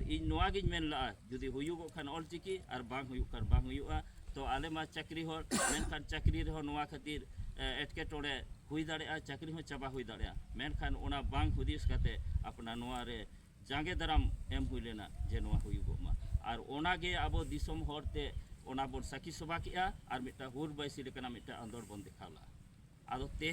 ᱤᱧ ᱱᱚᱣᱟ ᱜᱤᱧ ᱢᱮᱱ ᱞᱟᱜᱼᱟ ᱡᱩᱫᱤ ᱦᱩᱭᱩᱜᱚᱜ ᱠᱷᱟᱱ ᱚᱞ ᱪᱤᱠᱤ ᱟᱨ ᱵᱟᱝ ᱦᱩᱭᱩᱜ ᱠᱷᱟᱱ ᱵᱟᱝ ᱦᱩᱭᱩᱜᱼᱟ ᱛᱚ ᱟᱞᱮ ᱢᱟ ᱪᱟᱹᱠᱨᱤ ᱦᱚᱲ ᱢᱮᱱᱠᱷᱟᱱ ᱪᱟᱹᱠᱨᱤ ᱨᱮᱦᱚᱸ ᱱᱚᱣᱟ ᱠᱷᱟᱹᱛᱤᱨ ᱮᱴᱠᱮᱴᱚᱬᱮ ᱦᱩᱭ ᱫᱟᱲᱮᱭᱟᱜᱼᱟ ᱪᱟᱹᱠᱨᱤ ᱦᱚᱸ ᱪᱟᱵᱟ ᱦᱩᱭ ᱫᱟᱲᱮᱭᱟᱜᱼᱟ ᱢᱮᱱᱠᱷᱟᱱ ᱚᱱᱟ ᱵᱟᱝ ᱦᱩᱫᱤᱥ ᱠᱟᱛᱮ ᱟᱯᱱᱟᱨ ᱱᱚᱣᱟ ᱨᱮ ᱡᱟᱸᱜᱮ ᱫᱟᱨᱟᱢ ᱮᱢ ᱦᱩᱭ ᱞᱮᱱᱟ ᱡᱮ ᱱᱚᱣᱟ ᱦᱩᱭᱩᱜᱚᱜ ᱢᱟ ᱟᱨ ᱚᱱᱟᱜᱮ ᱟᱵᱚ ᱫᱤᱥᱚᱢ ᱦᱚᱲ ᱛᱮ ᱚᱱᱟ ᱵᱚᱱ ᱥᱟᱹᱠᱷᱤ ᱥᱚᱵᱷᱟ ᱠᱮᱜᱼᱟ ᱟᱨ ᱢᱤᱫᱴᱟᱝ ᱦᱩᱞ ᱵᱟᱹᱭᱥᱤ ᱞᱮᱠᱟᱱᱟᱜ ᱢᱤᱫᱴᱟᱝ ᱟᱱᱫᱳᱲ ᱵᱚᱱ ᱫᱮᱠᱷᱟᱣ ᱞᱟᱜᱼᱟ ᱟᱫᱚ ᱛᱮ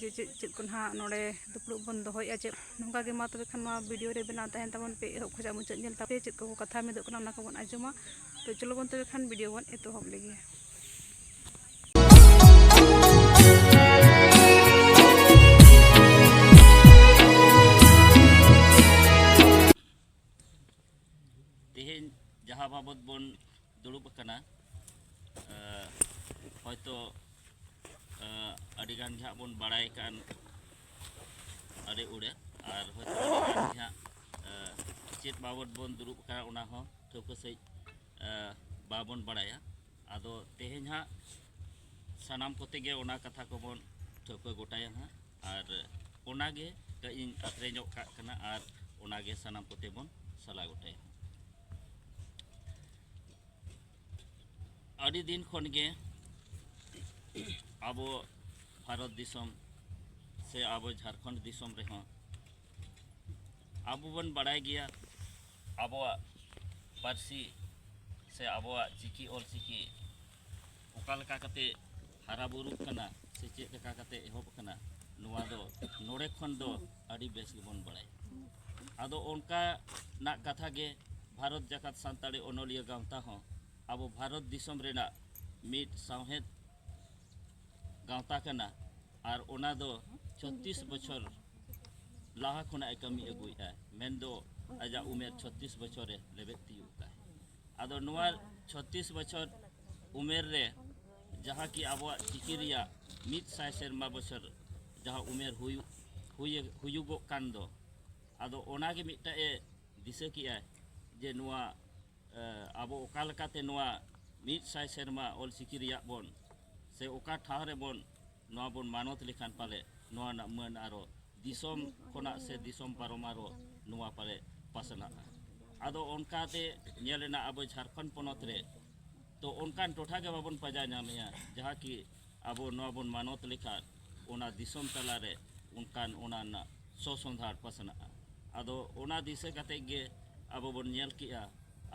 ᱡᱮ ᱪᱮᱫ ᱪᱮᱫ ᱠᱚ ᱱᱟᱦᱟᱜ ᱱᱚᱰᱮ ᱫᱩᱯᱲᱩᱵ ᱵᱚᱱ ᱫᱚᱦᱚᱭᱮᱫᱼᱟ ᱪᱮᱫ ᱱᱚᱝᱠᱟ ᱜᱮ ᱢᱟ ᱛᱚᱵᱮ ᱠᱷᱟᱱ ᱱᱚᱣᱟ ᱵᱷᱤᱰᱤᱭᱳ ᱨᱮ ᱵᱮᱱᱟᱣ ᱛᱟᱦᱮᱱ ᱛᱟᱵᱚᱱ ᱯᱮ ᱮᱦᱚᱵ ᱠᱷᱚᱱᱟᱜ ᱢᱩᱪᱟᱹᱫ ᱧᱮᱞ ᱛᱟᱯᱮ ᱪᱮᱫ ᱠᱚ ᱠᱟᱛᱷᱟ ᱢᱤᱫᱚᱜ ᱠᱟᱱᱟ ᱚᱱᱟ ᱠᱚᱵᱚᱱ ᱟᱸᱡᱚᱢᱟ ᱛᱚ ᱪᱚᱞᱚ ᱵᱚᱱ ᱛᱚᱵᱮ ᱠᱷᱟᱱ ᱵᱷᱤᱰᱤᱭᱳ ᱵᱚᱱ ᱮᱛᱚᱦᱚᱵ ᱞᱮᱜᱮ ᱛᱮᱦᱮᱧ ᱡᱟᱦᱟᱸ ᱵᱟᱵᱚᱛ ᱵᱚᱱ ᱫᱩᱲᱩᱵ ᱟᱠᱟᱱᱟ ᱦᱚᱭᱛᱚ ᱟᱹᱰᱤᱜᱟᱱ ᱜᱮ ᱦᱟᱸᱜ ᱵᱚᱱ ᱵᱟᱲᱟᱭ ᱠᱟᱱ ᱟᱹᱰᱤ ᱩᱲᱟᱹ ᱟᱨ ᱦᱚᱭᱛᱚ ᱟᱹᱰᱤᱜᱟᱱ ᱜᱮ ᱦᱟᱸᱜ ᱪᱮᱫ ᱵᱟᱵᱚᱫ ᱵᱚᱱ ᱫᱩᱲᱩᱵ ᱟᱠᱟᱱᱟ ᱚᱱᱟ ᱦᱚᱸ ᱴᱷᱟᱹᱣᱠᱟᱹ ᱥᱟᱺᱦᱤᱡ ᱵᱟᱵᱚᱱ ᱵᱟᱲᱟᱭᱟ ᱟᱫᱚ ᱛᱮᱦᱮᱧ ᱦᱟᱸᱜ ᱥᱟᱱᱟᱢ ᱠᱚᱛᱮ ᱜᱮ ᱚᱱᱟ ᱠᱟᱛᱷᱟ ᱠᱚᱵᱚᱱ ᱴᱷᱟᱹᱣᱠᱟᱹ ᱜᱚᱴᱟᱭᱟ ᱦᱟᱸᱜ ᱟᱨ ᱚᱱᱟᱜᱮ ᱠᱟᱹᱡ ᱤᱧ ᱟᱹᱠᱷᱨᱤᱧᱚᱜ ᱠᱟᱜ ᱠᱟᱱᱟ ᱟᱨ ᱚᱱᱟᱜᱮ ᱥᱟᱱᱟᱢ ᱠᱚᱛᱮ ᱵᱚᱱ ᱥᱟᱞᱟ ᱜᱚᱴᱟᱭᱟ ᱟᱹᱰᱤ ᱫᱤᱱ ᱠᱷᱚᱱ ᱜᱮ ᱟᱵᱚ ᱵᱷᱟᱨᱚᱛ ᱫᱤᱥᱚᱢ ᱥᱮ ᱟᱵᱚ ᱡᱷᱟᱲᱠᱷᱚᱸᱰ ᱫᱤᱥᱚᱢ ᱨᱮᱦᱚᱸ ᱟᱵᱚ ᱵᱚᱱ ᱵᱟᱲᱟᱭ ᱜᱮᱭᱟ ᱟᱵᱚᱣᱟᱜ ᱯᱟᱹᱨᱥᱤ ᱥᱮ ᱟᱵᱚᱣᱟᱜ ᱪᱤᱠᱤ ᱚᱞᱪᱤᱠᱤ ᱚᱠᱟ ᱞᱮᱠᱟ ᱠᱟᱛᱮ ᱦᱟᱨᱟ ᱵᱩᱨᱩᱜ ᱠᱟᱱᱟ ᱥᱮ ᱪᱮᱫ ᱞᱮᱠᱟ ᱠᱟᱛᱮ ᱮᱦᱚᱵ ᱠᱟᱱᱟ ᱱᱚᱣᱟ ᱫᱚ ᱱᱚᱰᱮ ᱠᱷᱚᱱ ᱫᱚ ᱟᱹᱰᱤ ᱵᱮᱥ ᱜᱮᱵᱚᱱ ᱵᱟᱲᱟᱭᱟ ᱟᱫᱚ ᱚᱱᱠᱟᱱᱟᱜ ᱠᱟᱛᱷᱟ ᱜᱮ ᱵᱷᱟᱨᱚᱛ ᱡᱟᱠᱟᱛ ᱥᱟᱱᱛᱟᱲᱤ ᱚᱱᱚᱞᱤᱭᱟᱹ ᱜᱟᱶᱛᱟ ᱦᱚᱸ ᱟᱵᱚ ᱵᱷᱟᱨᱚᱛ ᱫᱤᱥᱚᱢ ᱨᱮᱱᱟᱜ ᱢᱤᱫ ᱥᱟᱶᱦᱮᱫ ᱜᱟᱶᱛᱟ ᱠᱟᱱᱟ ᱟᱨ ᱚᱱᱟ ᱫᱚ ᱪᱷᱚᱛᱨᱤᱥ ᱵᱚᱪᱷᱚᱨ ᱞᱟᱦᱟ ᱠᱷᱚᱱᱟᱜ ᱮ ᱠᱟᱹᱢᱤ ᱟᱹᱜᱩᱭᱮᱫᱼᱟ ᱢᱮᱱᱫᱚ ᱟᱡᱟᱜ ᱩᱢᱮᱨ ᱪᱷᱚᱛᱨᱤᱥ ᱵᱚᱪᱷᱚᱨᱮ ᱞᱮᱵᱮᱫ ᱛᱤᱭᱳᱜ ᱟᱠᱟᱫᱼᱟ ᱟᱫᱚ ᱱᱚᱣᱟ ᱪᱷᱚᱛᱨᱤᱥ ᱵᱚᱪᱷᱚᱨ ᱩᱢᱮᱨ ᱨᱮ ᱡᱟᱦᱟᱸ ᱠᱤ ᱟᱵᱚᱣᱟᱜ ᱪᱤᱠᱤ ᱨᱮᱭᱟᱜ ᱢᱤᱫ ᱥᱟᱭ ᱥᱮᱨᱢᱟ ᱵᱚᱪᱷᱚᱨ ᱡᱟᱦᱟᱸ ᱩᱢᱮᱨ ᱦᱩᱭᱩᱜ ᱦᱩᱭᱩᱜᱚᱜ ᱠᱟᱱ ᱫᱚ ᱟᱫᱚ ᱚᱱᱟᱜᱮ ᱢᱤᱫᱴᱟᱜ ᱮ ᱫᱤᱥᱟᱹ ᱠᱮᱜᱼᱟ ᱡᱮ ᱱᱚᱣᱟ ᱟᱵᱚ ᱚᱠᱟ ᱞᱮᱠᱟᱛᱮ ᱱᱚᱣᱟ ᱢᱤᱫ ᱥᱟᱭ ᱥᱮᱨᱢᱟ ᱚᱞ ᱪᱤᱠᱤ ᱨᱮᱭᱟᱜ ᱵᱚᱱ ᱥᱮ ᱚᱠᱟ ᱴᱷᱟᱶ ᱨᱮᱵᱚᱱ ᱱᱚᱣᱟ ᱵᱚᱱ ᱢᱟᱱᱚᱛ ᱞᱮᱠᱷᱟᱱ ᱯᱟᱞᱮ ᱱᱚᱣᱟ ᱨᱮᱱᱟᱜ ᱢᱟᱹᱱ ᱟᱨᱚ ᱫᱤᱥᱚᱢ ᱠᱷᱚᱱᱟᱜ ᱥᱮ ᱫᱤᱥᱚᱢ ᱯᱟᱨᱚᱢ ᱟᱨᱚ ᱱᱚᱣᱟ ᱯᱟᱞᱮ ᱯᱟᱥᱱᱟᱜᱼᱟ ᱟᱫᱚ ᱚᱱᱠᱟᱛᱮ ᱧᱮᱞ ᱮᱱᱟ ᱟᱵᱚ ᱡᱷᱟᱲᱠᱷᱚᱸᱰ ᱯᱚᱱᱚᱛ ᱨᱮ ᱛᱚ ᱚᱱᱠᱟᱱ ᱴᱚᱴᱷᱟ ᱜᱮ ᱵᱟᱵᱚᱱ ᱯᱟᱸᱡᱟ ᱧᱟᱢᱮᱜᱼᱟ ᱡᱟᱦᱟᱸ ᱠᱤ ᱟᱵᱚ ᱱᱚᱣᱟ ᱵᱚᱱ ᱢᱟᱱᱚᱛ ᱞᱮᱠᱷᱟᱱ ᱚᱱᱟ ᱫᱤᱥᱚᱢ ᱛᱟᱞᱟᱨᱮ ᱚᱱᱠᱟᱱ ᱚᱱᱟ ᱨᱮᱱᱟᱜ ᱥᱚᱥᱚᱸᱫᱷᱟᱲ ᱯᱟᱥᱱᱟᱜᱼᱟ ᱟᱫᱚ ᱚᱱᱟ ᱫᱤᱥᱟᱹ ᱠᱟᱛᱮ ᱜᱮ ᱟᱵᱚ ᱵᱚᱱ ᱧᱮᱞ ᱠᱮᱜᱼᱟ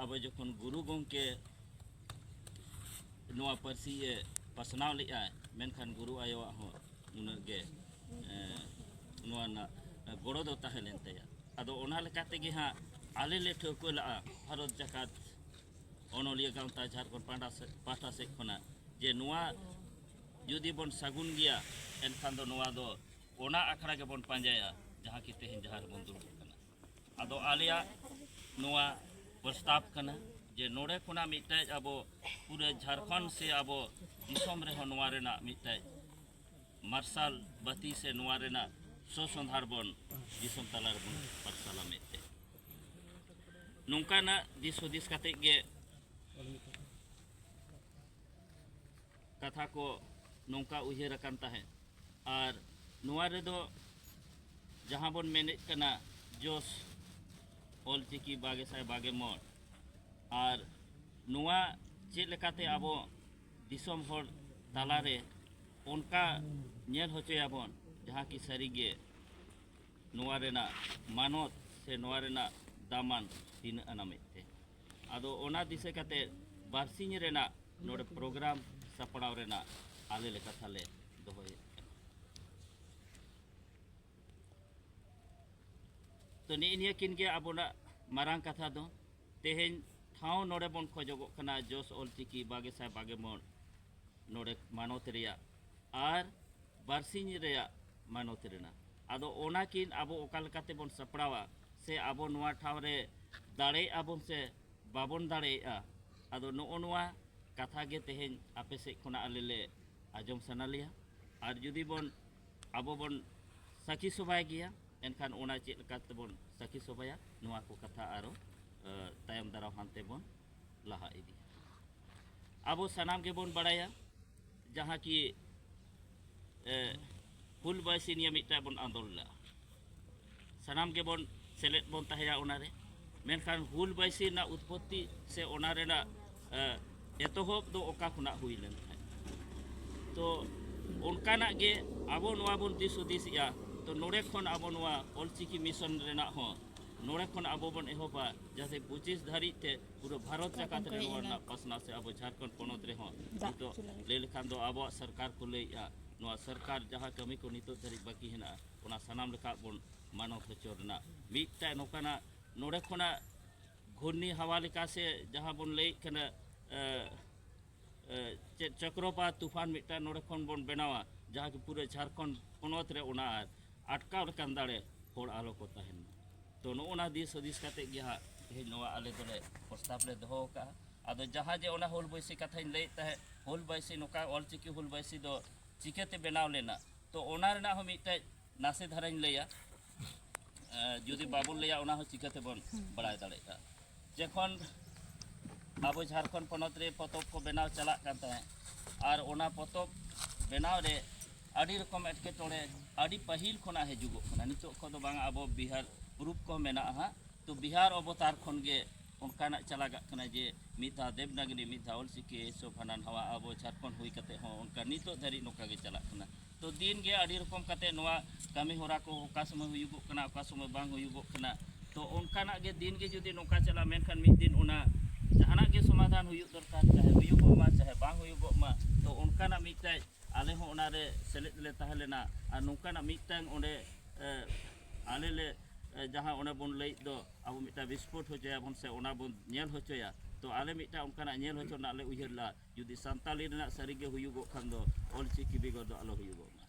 ᱟᱵᱚ ᱡᱚᱠᱷᱚᱱ ᱜᱩᱨᱩ ᱜᱚᱢᱠᱮ ᱱᱚᱣᱟ ᱯᱟᱹᱨᱥᱤ ᱮ ᱯᱟᱥᱱᱟᱣ ᱞᱮᱜᱼᱟ ᱢᱮᱱᱠᱷᱟᱱ ᱜᱩᱨᱩ ᱟᱭᱳᱣᱟᱜ ᱦᱚᱸ ᱩᱱᱟᱹᱜ ᱜᱮ ᱱᱚᱣᱟ ᱨᱮᱱᱟᱜ ᱜᱚᱲᱚ ᱫᱚ ᱛᱟᱦᱮᱸ ᱞᱮᱱ ᱛᱟᱭᱟ ᱟᱫᱚ ᱚᱱᱟ ᱞᱮᱠᱟ ᱛᱮᱜᱮ ᱦᱟᱸᱜ ᱟᱞᱮ ᱞᱮ ᱴᱷᱟᱹᱣᱠᱟᱹ ᱞᱟᱜᱼᱟ ᱵᱷᱟᱨᱚᱛ ᱡᱟᱠᱟᱛ ᱚᱱᱚᱞᱤᱭᱟᱹ ᱜᱟᱶᱛᱟ ᱡᱷᱟᱨᱠᱷᱚᱸᱰ ᱯᱟᱦᱴᱟ ᱥᱮᱫ ᱯᱟᱦᱴᱟ ᱥᱮᱫ ᱠᱷᱚᱱᱟᱜ ᱡᱮ ᱱᱚᱣᱟ ᱡᱩᱫᱤ ᱵᱚᱱ ᱥᱟᱹᱜᱩᱱ ᱜᱮᱭᱟ ᱮᱱᱠᱷᱟᱱ ᱫᱚ ᱱᱚᱣᱟ ᱫᱚ ᱚᱱᱟ ᱟᱠᱷᱲᱟ ᱜᱮᱵᱚᱱ ᱯᱟᱸᱡᱟᱭᱟ ᱡᱟᱦᱟᱸ ᱠᱤ ᱛᱮᱦᱮᱧ ᱡᱟᱦᱟᱸ ᱨᱮᱵᱚᱱ ᱫᱩᱲᱩᱵ ᱠᱟᱱᱟ ᱟᱫᱚ ᱟᱞᱮᱭᱟᱜ ᱱᱚᱣᱟ ᱯᱨᱚᱥᱛᱟᱵ ᱠᱟᱱᱟ ᱡᱮ ᱱᱚᱰᱮ ᱠᱷᱚᱱᱟᱜ ᱢᱤᱫᱴᱮᱡ ᱟᱵᱚ ᱯᱩᱨᱟᱹ ᱡᱷᱟᱨᱠᱷᱚᱸᱰ ᱥᱮ ᱟᱵᱚ ᱫᱤᱥᱚᱢ ᱨᱮᱦᱚᱸ ᱱᱚᱣᱟ ᱨᱮᱱᱟᱜ ᱢᱤᱫᱴᱮᱡ ᱢᱟᱨᱥᱟᱞ ᱵᱟᱹᱛᱤ ᱥᱮ ᱱᱚᱣᱟ ᱨᱮᱱᱟᱜ ᱥᱚᱥᱚᱸᱫᱷᱟᱲ ᱵᱚᱱ ᱫᱤᱥᱚᱢ ᱛᱟᱞᱟ ᱨᱮᱵᱚᱱ ᱯᱟᱨᱥᱟᱞᱟ ᱢᱮᱱᱛᱮ ᱱᱚᱝᱠᱟᱱᱟᱜ ᱫᱤᱥ ᱦᱩᱫᱤᱥ ᱠᱟᱛᱮ ᱜᱮ ᱠᱟᱛᱷᱟ ᱠᱚ ᱱᱚᱝᱠᱟ ᱩᱭᱦᱟᱹᱨ ᱟᱠᱟᱱ ᱛᱟᱦᱮᱸᱫ ᱟᱨ ᱱᱚᱣᱟ ᱨᱮᱫᱚ ᱡᱟᱦᱟᱸ ᱵᱚᱱ ᱢᱮᱱᱮᱫ ᱠᱟᱱᱟ ᱡᱚᱥ ᱚᱞᱪᱤᱠᱤ ᱵᱟᱜᱮ ᱥᱟᱭ ᱵᱟᱜᱮ ᱢᱚᱬ ᱟᱨ ᱱᱚᱣᱟ ᱪᱮᱫ ᱞᱮᱠᱟᱛᱮ ᱟᱵᱚ ᱫᱤᱥᱚᱢ ᱦᱚᱲ ᱛᱟᱞᱟᱨᱮ ᱚᱱᱠᱟ ᱧᱮᱞ ᱦᱚᱪᱚᱭᱟᱵᱚᱱ ᱡᱟᱦᱟᱸ ᱠᱤ ᱥᱟᱹᱨᱤᱜᱮ ᱱᱚᱣᱟ ᱨᱮᱱᱟᱜ ᱢᱟᱱᱚᱛ ᱥᱮ ᱱᱚᱣᱟ ᱨᱮᱱᱟᱜ ᱫᱟᱢᱟᱱ ᱛᱤᱱᱟᱹᱜ ᱟᱱᱟ ᱢᱮᱱᱛᱮ ᱟᱫᱚ ᱚᱱᱟ ᱫᱤᱥᱟᱹ ᱠᱟᱛᱮ ᱵᱟᱨᱥᱤᱧ ᱨᱮᱱᱟᱜ ᱱᱚᱰᱮ ᱯᱨᱳᱜᱨᱟᱢ ᱥᱟᱯᱲᱟᱣ ᱨᱮᱱᱟᱜ ᱟᱞᱮ ᱞᱮ ᱠᱟᱛᱷᱟ ᱞᱮ ᱫᱚᱦᱚᱭᱮᱫ ᱠᱟᱱᱟ ᱛᱚ ᱱᱤᱜ ᱱᱤᱭᱟᱹ ᱠᱤᱱ ᱜᱮ ᱟᱵᱚᱱᱟᱜ ᱢᱟᱨᱟᱝ ᱠᱟᱛᱷᱟ ᱫᱚ ᱛᱮᱦᱮᱧ ᱴᱷᱟᱶ ᱱᱚᱰᱮ ᱵᱚᱱ ᱠᱷᱚᱡᱚᱜᱚᱜ ᱠᱟᱱᱟ ᱡᱚᱥ ᱚᱞᱪᱤᱠᱤ ᱵᱟᱜᱮ ᱥᱟᱭ ᱵᱟᱜᱮ ᱢᱚᱬ ᱱᱚᱰᱮ ᱢᱟᱱᱚᱛ ᱨᱮᱭᱟᱜ ᱟᱨ ᱵᱟᱨᱥᱤᱧ ᱨᱮᱭᱟᱜ ᱢᱟᱱᱚᱛ ᱨᱮᱱᱟᱜ ᱟᱫᱚ ᱚᱱᱟ ᱠᱤᱱ ᱟᱵᱚ ᱚᱠᱟ ᱞᱮᱠᱟᱛᱮ ᱵᱚᱱ ᱥᱟᱯᱲᱟᱣᱟ ᱥᱮ ᱟᱵᱚ ᱱᱚᱣᱟ ᱴᱷᱟᱶ ᱨᱮ ᱫᱟᱲᱮᱭᱟᱜ ᱟᱵᱚᱱ ᱥᱮ ᱵᱟᱵᱚᱱ ᱫᱟᱲᱮᱭᱟᱜᱼᱟ ᱟᱫᱚ ᱱᱚᱜᱼᱚ ᱱᱚᱣᱟ ᱠᱟᱛᱷᱟ ᱜᱮ ᱛᱮᱦᱮᱧ ᱟᱯᱮ ᱥᱮᱫ ᱠᱷᱚᱱᱟᱜ ᱟᱞᱮ ᱞᱮ ᱟᱸᱡᱚᱢ ᱥᱟᱱᱟ ᱞᱮᱭᱟ ᱟᱨ ᱡᱩᱫᱤ ᱵᱚᱱ ᱟᱵᱚ ᱵᱚᱱ ᱥᱟᱹᱠᱷᱤ ᱥᱚᱵᱷᱟᱭ ᱜᱮᱭᱟ ᱮᱱᱠᱷᱟᱱ ᱚᱱᱟ ᱪᱮᱫ ᱞᱮᱠᱟ ᱛᱮᱵᱚᱱ ᱥᱟᱹᱠᱷᱤ ᱥᱚᱵᱷᱟᱭᱟ ᱱᱚᱣᱟ ᱠᱚ ᱠᱟᱛᱷᱟ ᱟᱨᱚ ᱛᱟᱭᱚᱢ ᱫᱟᱨᱟᱢ ᱦᱟᱱᱛᱮ ᱵᱚᱱ ᱞᱟᱦᱟ ᱤᱫᱤ ᱟᱵᱚ ᱥᱟᱱᱟᱢ ᱜᱮᱵᱚᱱ ᱵᱟᱲᱟᱭᱟ ᱡᱟᱦᱟᱸ ᱠᱤ ᱦᱩᱞ ᱵᱟᱭᱥᱤ ᱱᱤᱭᱟᱹ ᱢᱤᱫᱴᱟᱝ ᱵᱚᱱ ᱟᱸᱫᱳᱲ ᱞᱮᱫᱟ ᱥᱟᱱᱟᱢ ᱜᱮᱵᱚᱱ ᱥᱮᱞᱮᱫ ᱵᱚᱱ ᱛᱟᱦᱮᱸᱭᱟ ᱚᱱᱟᱨᱮ ᱢᱮᱱᱠᱷᱟᱱ ᱦᱩᱞ ᱵᱟᱭᱥᱤ ᱨᱮᱱᱟᱜ ᱩᱛᱯᱚᱛᱛᱤ ᱥᱮ ᱚᱱᱟ ᱨᱮᱱᱟᱜ ᱮᱛᱚᱦᱚᱵ ᱫᱚ ᱚᱠᱟ ᱠᱷᱚᱱᱟᱜ ᱦᱩᱭ ᱞᱮᱱ ᱛᱟᱦᱮᱸᱫ ᱛᱚ ᱚᱱᱠᱟᱱᱟᱜ ᱜᱮ ᱟᱵᱚ ᱱᱚᱣᱟ ᱵᱚᱱ ᱫᱤᱥ ᱦᱩᱫᱤᱥᱮᱜᱼᱟ ᱛᱚ ᱱᱚᱰᱮ ᱠᱷᱚᱱ ᱟᱵᱚ ᱱᱚᱣᱟ ᱚᱞᱪᱤᱠᱤ ᱢᱤᱥᱚᱱ ᱨᱮᱱᱟᱜ ᱦᱚᱸ ᱱᱚᱰᱮ ᱠᱷᱚᱱ ᱟᱵᱚ ᱵᱚᱱ ᱮᱦᱚᱵᱟ ᱡᱟᱛᱮ ᱯᱚᱸᱪᱤᱥ ᱫᱷᱟᱹᱨᱤᱡ ᱛᱮ ᱯᱩᱨᱟᱹ ᱵᱷᱟᱨᱚᱛ ᱡᱟᱠᱟᱛ ᱨᱮ ᱱᱚᱣᱟ ᱨᱮᱱᱟᱜ ᱯᱟᱥᱱᱟᱣ ᱥᱮ ᱟᱵᱚ ᱡᱷᱟᱲᱠᱷᱚᱸᱰ ᱯᱚᱱᱚᱛ ᱨᱮᱦᱚᱸ ᱱᱤᱛᱚᱜ ᱞᱟᱹᱭ ᱞᱮᱠᱷᱟᱱ ᱫᱚ ᱟᱵᱚᱣᱟᱜ ᱥᱚᱨᱠᱟᱨ ᱠᱚ ᱞᱟᱹᱭᱮᱫᱼᱟ ᱱᱚᱣᱟ ᱥᱚᱨᱠᱟᱨ ᱡᱟᱦᱟᱸ ᱠᱟᱹᱢᱤ ᱠᱚ ᱱᱤᱛᱚᱜ ᱫᱷᱟᱹᱨᱤᱡ ᱵᱟᱹᱠᱤ ᱦᱮᱱᱟᱜᱼᱟ ᱚᱱᱟ ᱥᱟᱱᱟᱢ ᱞᱮᱠᱟ ᱵᱚᱱ ᱢᱟᱱᱚᱛ ᱦᱚᱪᱚ ᱨᱮᱱᱟᱜ ᱢᱤᱫᱴᱟᱝ ᱱᱚᱝᱠᱟᱱᱟᱜ ᱱᱚᱰᱮ ᱠᱷᱚᱱᱟᱜ ᱜᱷᱩᱨᱱᱤ ᱦᱟᱣᱟ ᱞᱮᱠᱟ ᱥᱮ ᱡᱟᱦᱟᱸ ᱵᱚᱱ ᱞᱟᱹᱭᱮᱫ ᱠᱟᱱᱟ ᱪᱮᱫ ᱪᱚᱠᱨᱚᱯᱟᱛ ᱛᱩᱯᱷᱟᱱ ᱢᱤᱫᱴᱟᱝ ᱱᱚᱰᱮ ᱠᱷᱚᱱ ᱵᱚᱱ ᱵᱮᱱᱟᱣᱟ ᱡᱟᱦᱟᱸ ᱠᱤ ᱯᱩᱨᱟᱹ ᱡᱷᱟᱲᱠᱷᱚᱸᱰ ᱯᱚᱱᱚᱛ ᱨᱮ ᱚᱱᱟ ᱟᱴᱠᱟᱣ ᱞᱮᱠᱟᱱ ᱫᱟᱲᱮ ᱦᱚᱲ ᱟᱞᱚ ᱠᱚ ᱛᱟᱦᱮᱱ ᱢᱟ ᱛᱚ ᱱᱚᱜᱼᱚ ᱱᱟ ᱫᱤᱥ ᱦᱩᱫᱤᱥ ᱠᱟᱛᱮᱫ ᱜᱮ ᱦᱟᱸᱜ ᱛᱮᱦᱮᱧ ᱱᱚᱣᱟ ᱟᱞᱮ ᱫᱚᱞᱮ ᱯᱨᱚᱥᱛᱟᱵᱽ ᱞᱮ ᱫᱚᱦᱚ ᱟᱠᱟᱫᱼᱟ ᱟᱫᱚ ᱡᱟᱦᱟᱸ ᱡᱮ ᱚᱱᱟ ᱦᱩᱞ ᱵᱟᱹᱭᱥᱤ ᱠᱟᱛᱷᱟᱧ ᱞᱟᱹᱭᱮᱫ ᱛᱟᱦᱮᱸᱫ ᱦᱩᱞ ᱵᱟᱹᱭᱥᱤ ᱱᱚᱝᱠᱟ ᱚᱞᱪᱤᱠᱤ ᱦᱩᱞ ᱵᱟᱹᱭᱥᱤ ᱫᱚ ᱪᱤᱠᱟᱹᱛᱮ ᱵᱮᱱᱟᱣ ᱞᱮᱱᱟ ᱛᱚ ᱚᱱᱟ ᱨᱮᱱᱟᱜ ᱦᱚᱸ ᱢᱤᱫᱴᱮᱡ ᱱᱟᱥᱮ ᱫᱷᱟᱨᱟᱧ ᱞᱟᱹᱭᱟ ᱡᱩᱫᱤ ᱵᱟᱵᱚᱱ ᱞᱟᱹᱭᱟ ᱚᱱᱟ ᱦᱚᱸ ᱪᱤᱠᱟᱹ ᱛᱮᱵᱚᱱ ᱵᱟᱲᱟᱭ ᱫᱟᱲᱮᱭᱟᱜᱼᱟ ᱡᱚᱠᱷᱚᱱ ᱟᱵᱚ ᱡᱷᱟᱲᱠᱷᱚᱸᱰ ᱯᱚᱱᱚᱛ ᱨᱮ ᱯᱚᱛᱚᱵ ᱠᱚ ᱵᱮᱱᱟᱣ ᱪᱟᱞᱟᱜ ᱠᱟᱱ ᱛᱟᱦᱮᱸᱫ ᱟᱨ ᱚᱱᱟ ᱯᱚᱛᱚᱵ ᱵᱮᱱᱟᱣ ᱨᱮ ᱟᱹᱰᱤ ᱨᱚᱠᱚᱢ ᱮᱴᱠᱮᱴᱚᱬᱮ ᱟᱹᱰᱤ ᱯᱟᱹᱦᱤᱞ ᱠᱷᱚᱱᱟᱜ ᱦᱤᱡᱩᱜᱚᱜ ᱠᱟᱱᱟ ᱱᱤᱛᱚᱜ ᱠᱷᱚᱱ ᱫᱚ ᱵᱟᱝ ᱟᱵᱚ ᱵᱤᱦᱟᱨ ᱯᱩᱨᱩᱵ ᱠᱚ ᱢᱮᱱᱟᱜᱼᱟ ᱦᱟᱸᱜ ᱛᱚ ᱵᱤᱦᱟᱨ ᱚᱵᱚᱛᱟᱨ ᱠᱷᱚᱱ ᱜᱮ ᱚᱱᱠᱟᱱᱟᱜ ᱪᱟᱞᱟᱜ ᱠᱟᱱᱟ ᱡᱮ ᱢᱤᱫ ᱫᱷᱟᱣ ᱫᱮᱵᱽᱱᱟᱜᱨᱤ ᱢᱤᱫ ᱫᱷᱟᱣ ᱚᱞᱪᱤᱠᱤ ᱥᱚᱵ ᱦᱟᱱᱟ ᱱᱟᱣᱟ ᱟᱵᱚ ᱡᱷᱟᱲᱠᱷᱚᱸᱰ ᱦᱩᱭ ᱠᱟᱛᱮ ᱦᱚᱸ ᱚᱱᱠᱟ ᱱᱤᱛᱚᱜ ᱫᱷᱟᱹᱨᱤᱡ ᱱᱚᱝᱠᱟ ᱜᱮ ᱪᱟᱞᱟᱜ ᱠᱟᱱᱟ ᱛᱚ ᱫᱤᱱ ᱜᱮ ᱟᱹᱰᱤ ᱨᱚᱠᱚᱢ ᱠᱟᱛᱮ ᱱᱚᱣᱟ ᱠᱟᱹᱢᱤ ᱦᱚᱨᱟ ᱠᱚ ᱚᱠᱟ ᱥᱚᱢᱚᱭ ᱦᱩᱭᱩᱜᱚᱜ ᱠᱟᱱᱟ ᱚᱠᱟ ᱥᱚᱢᱚᱭ ᱵᱟᱝ ᱦᱩᱭᱩᱜᱚᱜ ᱠᱟᱱᱟ ᱛᱚ ᱚᱱᱠᱟᱱᱟᱜ ᱜᱮ ᱫᱤᱱ ᱜᱮ ᱡᱩᱫᱤ ᱱᱚᱝᱠᱟ ᱪᱟᱞᱟᱜᱼᱟ ᱢᱮᱱᱠᱷᱟᱱ ᱢᱤᱫ ᱫᱤᱱ ᱚᱱᱟ ᱡᱟᱦᱟᱱᱟᱜ ᱜᱮ ᱥᱚᱢᱟᱫᱷᱟᱱ ᱦᱩᱭᱩᱜ ᱫᱚᱨᱠᱟᱨ ᱪᱟᱦᱮ ᱦᱩᱭᱩᱜᱚᱜ ᱢᱟ ᱪᱟᱦᱮ ᱵᱟᱝ ᱦᱩᱭᱩᱜᱚᱜ ᱢᱟ ᱛᱚ ᱚᱱᱠᱟᱱᱟᱜ ᱢᱤᱫᱴᱟᱡ ᱟᱞᱮ ᱦᱚᱸ ᱚᱱᱟᱨᱮ ᱥᱮᱞᱮᱫ ᱞᱮ ᱛᱟᱦᱮᱸ ᱞᱮᱱᱟ ᱟᱨ ᱱᱚᱝᱠᱟᱱᱟᱜ ᱢᱤᱫᱴᱟᱝ ᱚᱸᱰᱮ ᱟᱞᱮ ᱞᱮ ᱡᱟᱦᱟᱸ ᱚᱱᱮ ᱵᱚᱱ ᱞᱟᱹᱭᱮᱫ ᱫᱚ ᱟᱵᱚ ᱢᱤᱫᱴᱟᱝ ᱵᱤᱥᱯᱷᱳᱴ ᱦᱚᱪᱚᱭᱟᱵᱚᱱ ᱥᱮ ᱚᱱᱟ ᱵᱚᱱ ᱧᱮᱞ ᱦᱚᱪᱚᱭᱟ ᱛᱚ ᱟᱞᱮ ᱢᱤᱫᱴᱟᱝ ᱚᱱᱠᱟᱱᱟᱜ ᱧᱮᱞ ᱦᱚᱪᱚ ᱨᱮᱱᱟᱜ ᱞᱮ ᱩᱭᱦᱟᱹᱨ ᱞᱮᱫᱟ ᱡᱩᱫᱤ ᱥᱟᱱᱛᱟᱲᱤ ᱨᱮᱱᱟᱜ ᱥᱟᱹᱨᱤᱜᱮ ᱦᱩᱭᱩᱜᱚᱜ ᱠᱷᱟᱱ ᱫᱚ ᱚᱞᱪᱤᱠᱤ ᱵᱮᱜᱚᱨ ᱫᱚ ᱟᱞᱚ ᱦᱩᱭᱩᱜᱚᱜ ᱢᱟ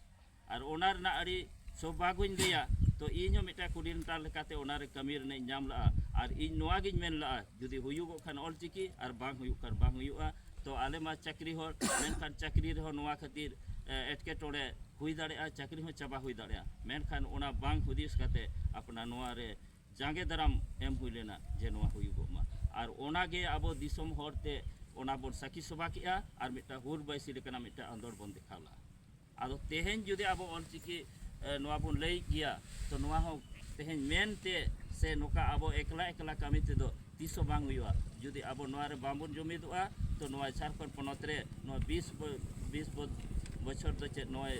ᱟᱨ ᱚᱱᱟ ᱨᱮᱱᱟᱜ ᱟᱹᱰᱤ ᱥᱳᱵᱷᱟᱜᱚᱧ ᱞᱟᱹᱭᱟ ᱛᱚ ᱤᱧ ᱦᱚᱸ ᱢᱤᱫᱴᱟᱝ ᱠᱳᱰᱤᱱᱮᱴᱟᱨ ᱞᱮᱠᱟᱛᱮ ᱚᱱᱟᱨᱮ ᱠᱟᱹᱢᱤ ᱨᱮᱱᱟᱜ ᱤᱧ ᱧᱟᱢ ᱞᱟᱜᱼᱟ ᱟᱨ ᱤᱧ ᱱᱚᱣᱟᱜᱤᱧ ᱢᱮᱱ ᱞᱟᱜᱼᱟ ᱡᱩᱫᱤ ᱦᱩᱭᱩᱜᱚᱜ ᱠᱷᱟᱱ ᱚᱞᱪᱤᱠᱤ ᱟᱨ ᱵᱟᱝ ᱦᱩᱭᱩᱜ ᱠᱷᱟᱱ ᱵᱟᱝ ᱦᱩᱭᱩᱜᱼᱟ ᱛᱚ ᱟᱞᱮ ᱢᱟ ᱪᱟᱹᱠᱨᱤ ᱦᱚᱲ ᱢᱮᱱᱠᱷᱟᱱ ᱪᱟᱹᱠᱨᱤ ᱨᱮᱦᱚᱸ ᱱᱚᱣᱟ ᱠᱷᱟᱹᱛᱤᱨ ᱮᱴᱠᱮᱴᱚᱬᱮ ᱦᱩᱭ ᱫᱟᱲᱮᱭᱟᱜᱼᱟ ᱪᱟᱹᱠᱨᱤ ᱦᱚᱸ ᱪᱟᱵᱟ ᱦᱩᱭ ᱫᱟᱲᱮᱭᱟᱜᱼᱟ ᱢᱮᱱᱠᱷᱟᱱ ᱚᱱᱟ ᱵᱟᱝ ᱦᱩᱫᱤᱥ ᱠᱟᱛᱮ ᱟᱯᱱᱟᱨ ᱱᱚᱣᱟᱨᱮ ᱡᱟᱸᱜᱮ ᱫᱟᱨᱟᱢ ᱮᱢ ᱦᱩᱭ ᱞᱮᱱᱟ ᱡᱮ ᱱᱚᱣᱟ ᱦᱩᱭᱩᱜᱚᱜ ᱢᱟ ᱟᱨ ᱚᱱᱟᱜᱮ ᱟᱵᱚ ᱫᱤᱥᱚᱢ ᱦᱚᱲᱛᱮ ᱚᱱᱟ ᱵᱚᱱ ᱥᱟᱹᱠᱷᱤ ᱥᱚᱵᱷᱟ ᱠᱮᱜᱼᱟ ᱟᱨ ᱢᱤᱫᱴᱟᱝ ᱦᱩᱞ ᱵᱟᱭᱥᱤ ᱞᱮᱠᱟᱱᱟᱜ ᱢᱤᱫᱴᱟᱝ ᱟᱸᱫᱳᱲ ᱵᱚᱱ ᱫᱮᱠᱷᱟᱣ ᱞᱮᱜᱼᱟ ᱟᱫᱚ ᱛᱮᱦᱮᱧ ᱡᱩᱫᱤ ᱟᱵᱚ ᱚᱞᱪᱤᱠᱤ ᱱᱚᱣᱟ ᱵᱚᱱ ᱞᱟᱹᱭᱮᱫ ᱜᱮᱭᱟ ᱛᱚ ᱱᱚᱣᱟ ᱦᱚᱸ ᱛᱮᱦᱮᱧ ᱢᱮᱱᱛᱮ ᱥᱮ ᱱᱚᱝᱠᱟ ᱟᱵᱚ ᱮᱠᱞᱟ ᱮᱠᱞᱟ ᱠᱟᱹᱢᱤ ᱛᱮᱫᱚ ᱛᱤᱥ ᱦᱚᱸ ᱵᱟᱝ ᱦᱩᱭᱩᱜᱼᱟ ᱡᱩᱫᱤ ᱟᱵᱚ ᱱᱚᱣᱟ ᱨᱮ ᱵᱟᱝᱵᱚᱱ ᱡᱩᱢᱤᱫᱚᱜᱼᱟ ᱛᱚ ᱱᱚᱣᱟ ᱡᱷᱟᱲᱠᱷᱚᱸᱰ ᱯᱚᱱᱚᱛ ᱨᱮ ᱱᱚᱣᱟ ᱵᱤᱥ ᱵᱤᱥ ᱵᱚᱪᱷᱚᱨ ᱫᱚ ᱪᱮᱫ ᱱᱚᱜᱼᱚᱭ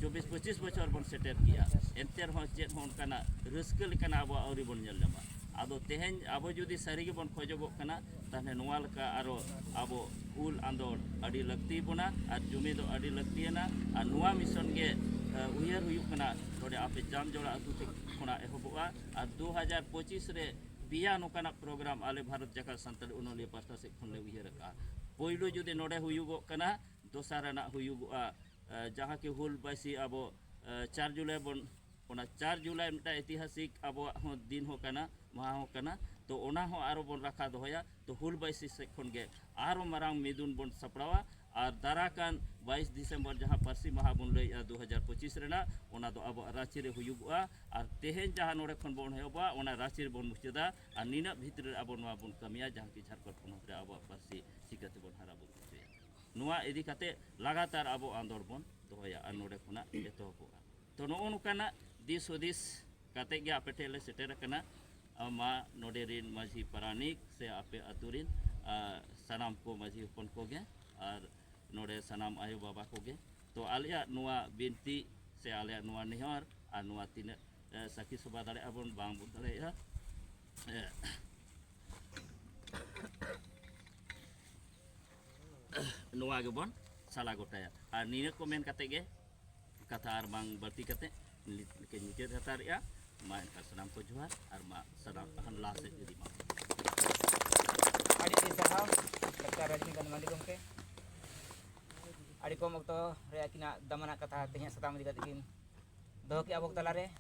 ᱪᱚᱵᱵᱤᱥ ᱯᱚᱸᱪᱤᱥ ᱵᱚᱪᱷᱚᱨ ᱵᱚᱱ ᱥᱮᱴᱮᱨ ᱠᱮᱜᱼᱟ ᱮᱱᱛᱮ ᱨᱮᱦᱚᱸ ᱪᱮᱫ ᱦᱚᱸ ᱚᱱᱠᱟᱱᱟᱜ ᱨᱟᱹᱥᱠᱟᱹ ᱞᱮᱠᱟᱱᱟᱜ ᱟᱵᱚᱣᱟᱜ ᱟᱹᱣᱨᱤ ᱵᱚᱱ ᱧᱮᱞ ᱧᱟᱢᱟ ᱟᱫᱚ ᱛᱮᱦᱮᱧ ᱟᱵᱚ ᱡᱩᱫᱤ ᱥᱟᱹᱨᱤ ᱜᱮᱵᱚᱱ ᱠᱷᱚᱡᱚᱜᱚᱜ ᱠᱟᱱᱟ ᱛᱟᱦᱚᱞᱮ ᱱᱚᱣᱟ ᱞᱮᱠᱟ ᱟᱨᱚ ᱟᱵᱚ ᱩᱞ ᱟᱸᱫᱳᱲ ᱟᱹᱰᱤ ᱞᱟᱹᱠᱛᱤ ᱵᱚᱱᱟ ᱟᱨ ᱡᱩᱢᱤ ᱫᱚ ᱟᱹᱰᱤ ᱞᱟᱹᱠᱛᱤᱭᱟᱱᱟ ᱟᱨ ᱱᱚᱣᱟ ᱢᱤᱥᱚᱱ ᱜᱮ ᱩᱭᱦᱟᱹᱨ ᱦᱩᱭᱩᱜ ᱠᱟᱱᱟ ᱱᱚᱰᱮ ᱟᱯᱮ ᱡᱟᱢᱡᱚᱲᱟ ᱟᱹᱛᱩ ᱠᱷᱚᱱᱟᱜ ᱮᱦᱚᱵᱚᱜᱼᱟ ᱟᱨ ᱫᱩ ᱦᱟᱡᱟᱨ ᱯᱚᱸᱪᱤᱥ ᱨᱮ ᱯᱮᱭᱟ ᱱᱚᱝᱠᱟᱱᱟᱜ ᱯᱨᱳᱜᱨᱟᱢ ᱟᱞᱮ ᱵᱷᱟᱨᱚᱛ ᱡᱟᱠᱟᱛ ᱥᱟᱱᱛᱟᱲᱤ ᱚᱱᱚᱞᱤᱭᱟᱹ ᱯᱟᱥᱴᱟ ᱥᱮᱫ ᱠᱷᱚᱱ ᱞᱮ ᱩᱭᱦᱟᱹᱨ ᱟᱠᱟᱫᱼᱟ ᱯᱳᱭᱞᱳ ᱡᱩᱫᱤ ᱱᱚᱰᱮ ᱦᱩᱭᱩᱜᱚᱜ ᱠᱟᱱᱟ ᱫᱚᱥᱟᱨ ᱟᱱᱟᱜ ᱦᱩᱭᱩᱜᱚᱜᱼᱟ ᱡᱟᱦᱟᱸ ᱠᱤ ᱦᱩᱞ ᱵᱟᱭᱥᱤ ᱟᱵᱚ ᱪᱟᱨ ᱡᱩᱞᱟᱭ ᱵᱚᱱ ᱚᱱᱟ ᱪᱟᱨ ᱡᱩᱞᱟᱭ ᱢᱤᱫᱴᱟᱝ ᱤᱛᱤᱦᱟᱥᱤᱠ ᱟᱵᱚᱣᱟᱜ ᱦᱚᱸ ᱫᱤᱱ ᱦᱚᱸ ᱠᱟᱱᱟ ᱢᱟᱦᱟ ᱦᱚᱸ ᱠᱟᱱᱟ ᱛᱚ ᱚᱱᱟ ᱦᱚᱸ ᱟᱨᱚ ᱵᱚᱱ ᱨᱟᱠᱷᱟ ᱫᱚᱦᱚᱭᱟ ᱛᱚ ᱦᱩᱞ ᱵᱟᱭᱥᱤ ᱥᱮᱫ ᱠᱷᱚᱱ ᱜᱮ ᱟᱨᱚ ᱢᱟᱨᱟᱝ ᱢᱤᱫᱩᱱ ᱵᱚᱱ ᱥᱟᱯᱲᱟᱣᱟ ᱟᱨ ᱫᱟᱨᱟ ᱠᱟᱱ ᱵᱟᱭᱤᱥ ᱰᱤᱥᱮᱢᱵᱚᱨ ᱡᱟᱦᱟᱸ ᱯᱟᱹᱨᱥᱤ ᱢᱟᱦᱟ ᱵᱚᱱ ᱞᱟᱹᱭᱮᱫᱼᱟ ᱫᱩ ᱦᱟᱡᱟᱨ ᱯᱚᱸᱪᱤᱥ ᱨᱮᱱᱟᱜ ᱚᱱᱟ ᱫᱚ ᱟᱵᱚᱣᱟᱜ ᱨᱟᱺᱪᱤ ᱨᱮ ᱦᱩᱭᱩᱜᱚᱜᱼᱟ ᱟᱨ ᱛᱮᱦᱮᱧ ᱡᱟᱦᱟᱸ ᱱᱚᱰᱮ ᱠᱷᱚᱱ ᱵᱚᱱ ᱮᱦᱚᱵᱟ ᱚᱱᱟ ᱨᱟᱺᱪᱤ ᱨᱮᱵᱚᱱ ᱢᱩᱪᱟᱹᱫᱟ ᱟᱨ ᱱᱤᱱᱟᱹᱜ ᱵᱷᱤᱛᱨᱤ ᱨᱮ ᱟᱵᱚ ᱱᱚᱣᱟ ᱵᱚᱱ ᱠᱟᱹᱢᱤᱭᱟ ᱡᱟᱦᱟᱸ ᱠᱤ ᱡᱷᱟᱲᱠᱷᱚᱸᱰ ᱯᱚᱱᱚᱛ ᱨᱮ ᱟᱵᱚᱣᱟᱜ ᱯᱟᱹᱨᱥᱤ ᱪᱤᱠᱟᱹ ᱛᱮᱵᱚᱱ ᱦᱟᱨᱟ ᱵᱩᱨᱩ ᱦᱚᱪᱚᱭᱟ ᱱᱚᱣᱟ ᱤᱫᱤ ᱠᱟᱛᱮ ᱞᱟᱜᱟᱛᱟᱨ ᱟᱵᱚ ᱟᱸᱫᱳᱲ ᱵᱚᱱ ᱫᱚᱦᱚᱭᱟ ᱟᱨ ᱱᱚᱰᱮ ᱠᱷᱚᱱᱟᱜ ᱮᱛᱚᱦᱚᱵᱚᱜᱼᱟ ᱛᱚ ᱱᱚᱜᱼᱚ ᱱᱚᱝᱠᱟᱱᱟᱜ ᱫᱤᱥ ᱦᱩᱫᱤᱥ ᱠᱟᱛᱮ ᱜᱮ ᱟᱯᱮ ᱴᱷᱮᱱ ᱞᱮ ᱥᱮᱴᱮᱨ ᱟᱠᱟᱱᱟ ᱢᱟ ᱱᱚᱰᱮ ᱨᱤᱱ ᱢᱟᱹᱡᱷᱤ ᱯᱟᱨᱟᱱᱤᱠ ᱥᱮ ᱟᱯᱮ ᱟᱛᱳ ᱨᱤᱱ ᱥᱟᱱᱟᱢ ᱠᱚ ᱢᱟᱹᱡᱷᱤ ᱦᱚᱯᱚᱱ ᱠᱚᱜᱮ ᱟᱨ ᱱᱚᱰᱮ ᱥᱟᱱᱟᱢ ᱟᱭᱳ ᱵᱟᱵᱟ ᱠᱚᱜᱮ ᱛᱚ ᱟᱞᱮᱭᱟᱜ ᱱᱚᱣᱟ ᱵᱤᱱᱛᱤ ᱥᱮ ᱟᱞᱮᱭᱟᱜ ᱱᱚᱣᱟ ᱱᱮᱦᱚᱨ ᱟᱨ ᱱᱚᱣᱟ ᱛᱤᱱᱟᱹᱜ ᱥᱟᱹᱠᱷᱤ ᱥᱚᱵᱷᱟ ᱫᱟᱲᱮᱭᱟᱜᱼᱟ ᱵᱚᱱ ᱵᱟᱝ ᱵᱚᱱ ᱫᱟᱲᱮᱭᱟᱜᱼᱟ ᱱᱚᱣᱟ ᱜᱮᱵᱚᱱ ᱥᱟᱞᱟ ᱜᱚᱴᱟᱭᱟ ᱟᱨ ᱱᱤᱭᱟᱹ ᱠᱚ ᱢᱮᱱ ᱠᱟᱛᱮ ᱜᱮ ᱠᱟᱛᱷᱟ ᱟᱨ ᱵᱟᱝ ᱵᱟᱹᱲᱛᱤ ᱠᱟᱛᱮ ᱞᱮᱠᱟᱧ ᱢᱩᱪᱟᱹᱫ ᱦᱟᱛᱟᱲᱮᱜᱼᱟ ᱢᱟ ᱮᱱᱠᱷᱟᱱ ᱥᱟᱱᱟᱢ ᱠᱚ ᱡᱚᱦᱟᱨ ᱟᱨ ᱢᱟ ᱥᱟᱱᱟᱢ ᱛᱟᱦᱟᱱ ᱞᱟᱦᱟ ᱥᱮᱫ ᱤᱫᱤ ᱢᱟ ᱟᱹᱰᱤ ᱟᱹᱰᱤ ᱥᱟᱨᱦᱟᱣ ᱰᱟᱠᱛᱟᱨ ᱨᱟᱡᱽᱱᱤᱠᱟᱱᱛ ᱢᱟᱱᱰᱤ ᱜᱚᱢᱠᱮ ᱟᱹᱰᱤ ᱠᱚᱢ ᱚᱠᱛᱚ ᱨᱮ ᱟᱹᱠᱤᱱᱟᱜ ᱫᱟᱢᱟᱱᱟᱜ ᱠᱟᱛᱷᱟ ᱛᱮᱦᱮᱧᱟᱜ ᱥᱟᱛᱟᱢ ᱤᱫᱤ ᱠᱟᱛᱮ ᱠᱤᱱ ᱫᱚᱦᱚ ᱠᱮᱜᱼᱟ ᱟᱵᱚ ᱛᱟᱞᱟᱨᱮ